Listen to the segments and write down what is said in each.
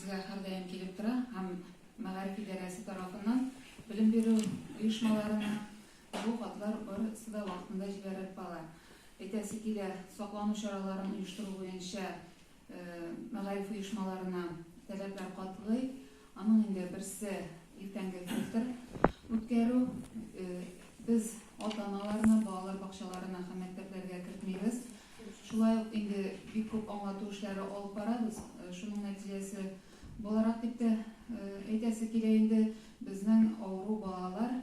Безгә һәрдаим килеп тора һәм мәгариф идарәсе тарафыннан белем бирү оешмаларына бу хатлар барысы да вакытында җибәрелеп кала. Әйтәсе килә, саклану чараларын оештыру буенча мәгариф оешмаларына таләпләр катгый. Аның инде берсе иртәнге фильтр үткәрү. Без ата-аналарны балалар бакчаларына һәм мәктәпләргә кертмибез. Шулай ук инде бик күп аңлату эшләре алып барабыз. Шуның нәтиҗәсе буларак дип тә әйтәсе килә инде, безнең авыру балалар,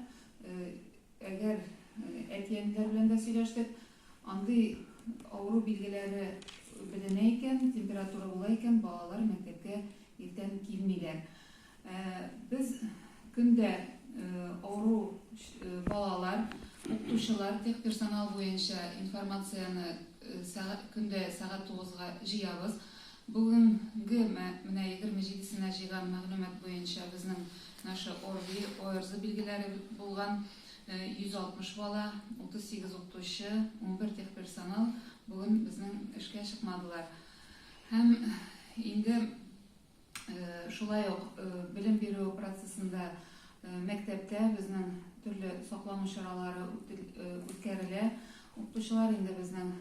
әгәр әти-әниләр белән дә сөйләштек, андый авыру билгеләре беленә икән, температура була икән, балалар мәктәпкә иртән килмиләр. Без көн дә авыру балалар, укытучылар, техперсонал буенча информацияне көн дә сәгать тугызга җыябыз. Бүгенге менә егерме җидесенә җыйган мәгълүмат буенча безнең наши ОРВИ, ОРЗ билгеләре булган йөз алтмыш бала, утыз сигез укытучы, унбер техперсонал бүген безнең эшкә чыкмадылар. Һәм инде Шулай ук белем бирү процессында мәктәптә безнең төрле саклану чаралары үткәрелә. Укытучылар инде безнең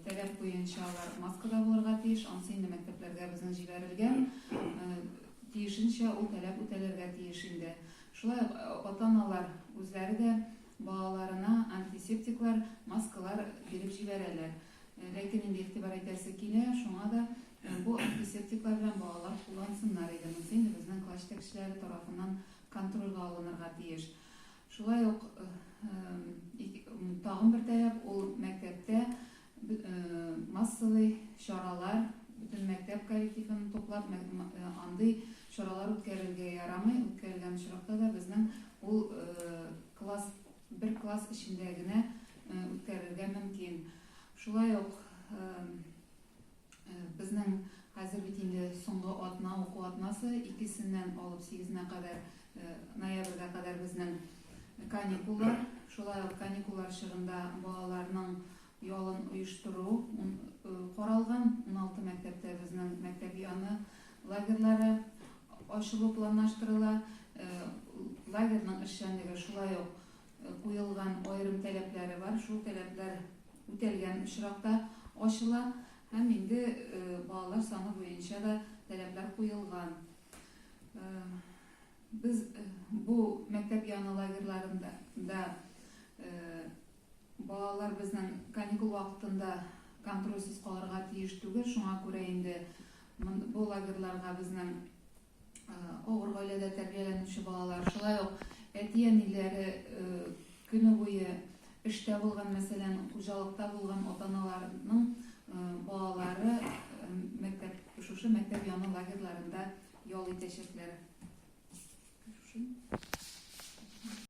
таләп буенча алар маскада булырга тиеш. Ансы инде мәктәпләргә безнең җибәрелгән. Тиешенчә ул таләп үтәлергә тиеш инде. Шулай ук ата-аналар үзләре дә балаларына антисептиклар, маскалар биреп җибәрәләр. Ләкин инде игътибар итәсе килә, шуңа да бу антисептиклар белән балалар куллансыннар иде, монысы инде безнең класс җитәкчеләре тарафыннан контрольгә алынырга тиеш. Шулай ук тагын бер таләп, ул мәктәптә массовый чаралар, бөтен мәктәп коллективын туплап, андый чаралар үткәрергә ярамый, үткәрелгән очракта да безнең ул класс бер класс эчендә генә үткәрергә мөмкин. Шулай ук безнең хәзер бит инде соңгы атна, уку атнасы, икесеннән алып сигезенә кадәр, ноябрьгә кадәр безнең каникуллар. Шулай ук каникуллар чорында балаларның ялын оештыру каралган, уналты мәктәптә безнең мәктәп яны лагерьлары ачылу планлаштырыла. Лагерьның эшчәнлеге шулай ук куелган аерым таләпләре бар, шул таләпләр үтәлгән очракта ачыла һәм инде балалар саны буенча да таләпләр куелган. Без бу мәктәп яны лагерьларында Балалар безнең каникул вакытында контрольсез калырга тиеш түгел, шуңа күрә инде бу лагерьларга безнең авыр гаиләдә тәрбияләнүче балалар, шулай ук әти-әниләре көне буе эштә булган, мәсәлән, хуҗалыкта булган ата-аналарның балалары мәктәп, шушы мәктәп яны лагерьларында ял итәчәкләр.